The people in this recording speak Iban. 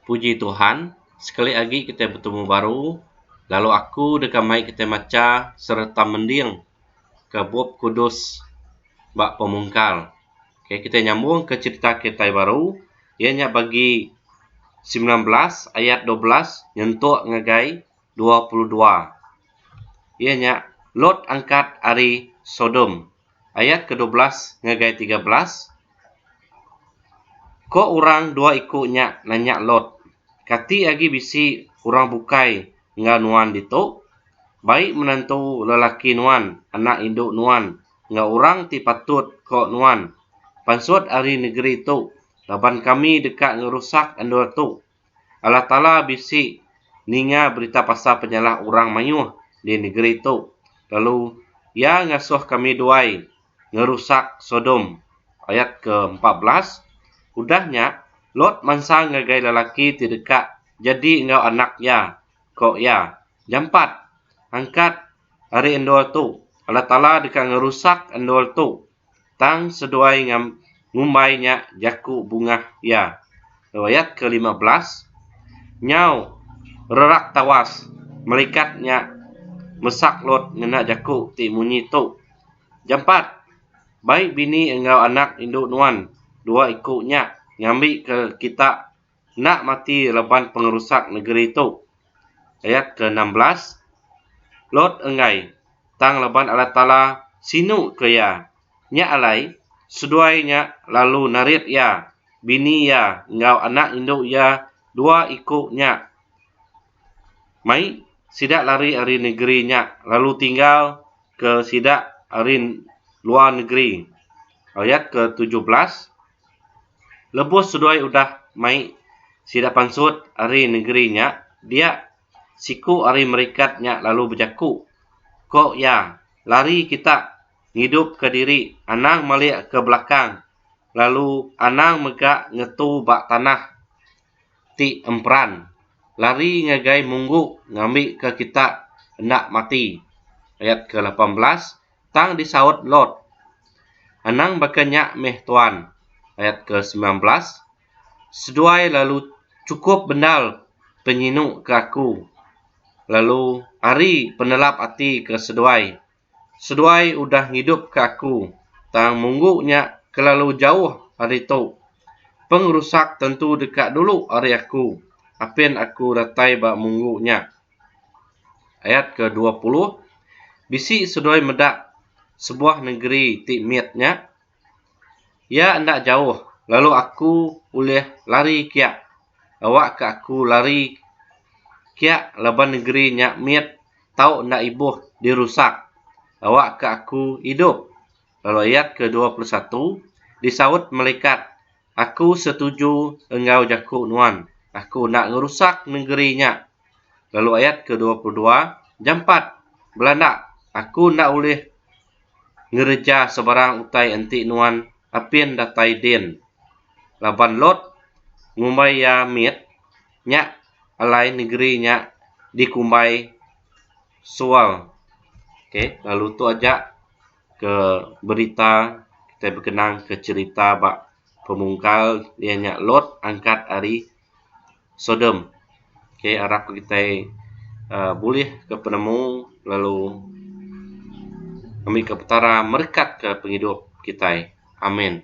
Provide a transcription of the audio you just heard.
Puji Tuhan, sekali agi kitai betemu baru lalu aku deka mai kitai macha sereta mending ke Bup Kudus ba pemungkal. Okay, kitai nyambung ke cherita kitai baru iya nya bagi semilan belas ayat dua belas nyentuk ngagai dua puluh dua. Iya nya Lot angkat ari Sodom. Ayat ke dua belas ngagai tiga belas, Ko orang dua iku nya nanya Lot, Kati agi bisi orang bukai enggau nuan ditu? Bai menantu lelaki nuan, anak indu nuan, enggau orang ti patut ko nuan, pansut ari negeri tu, laban kami deka ngerusak endur tu. Allah Taala bisi ninga berita pasal penyalah orang mayuh di negeri tu lalu Iya ngasuh kami duai ngerusak Sodom, ayat ke empat belas. Udah nya, Lot mansa ngagai lelaki ti deka jadi enggau anak iya, ko iya, Jampat! Angkat ari endur tu! Allah Taala deka ngerusak endur tu Tang seduai ngam ngumbai nya jaku bungah iya. Lalu ayat ke lima belas, Nyau rerak tawas melikat nya mesak Lot ngena jaku ti munyi tu, Jampat! Bai bini enggau anak indu nuan dua iku nya ngambi ke kita enda mati laban pengerusak negeri tu. Ayat ke enam belas, Lot enggai, tang laban Allah Taala sinu ke iya. Nya alai, seduai nya lalu narit iya, bini iya enggau anak indu iya dua iku nya mai, sida lari ari negeri nya lalu tinggal ke sida ari luar negeri. Ayat ke tujuh belas. Lebuh seduai udah mai sida pansut ari nengeri nya dia siku ari merikat nya lalu bejaku ko iya lari kita ngidup ka diri anang malik ka belakang lalu anang mega ngetu ba tanah ti emperan lari ngagai munggu ngambi ka kita enda mati ayat ke lapan belas tang disaut Lot, Anang baka nya meh Tuan, ayat ke semilan belas, seduai lalu chukup bendar penyinu ke aku, lalu ari penelap ati ke seduai, seduai udah ngidupka aku, tang munggu nya kelalu jauh ari tu, pengerusak tentu deka dulu ari aku, apin aku datai ba munggu nya. Ayat ke dua puluh, Bisi seduai meda sebuah nengeri ti mit nya. Iya enda jauh, lalu aku ulih lari kia. Awakka aku lari kia laban nengeri nya mit tau enda ibuh dirusak. Awakka aku idup. Lalu ayat ke dua puluh satu, Disaut melikat Aku setuju enggau jaku nuan. Aku enda ngerusak nengeri nya. Lalu ayat ke dua puluh dua, Jampat! Belanda! Aku enda ulih ngereja sebarang utai enti nuan apin datai din. Laban Lot ngumbai iya mit, nya alai nengeri nya dikumbai Soal. Okey, lalu tu aja. ke berita kitai bekenang ke cherita ba pemungkal iya nya Lot angkat ari Sodom. K arap ke kitai um bulih ke penemu lalu ngambika petara merekat ke pengidup kitai. Amen.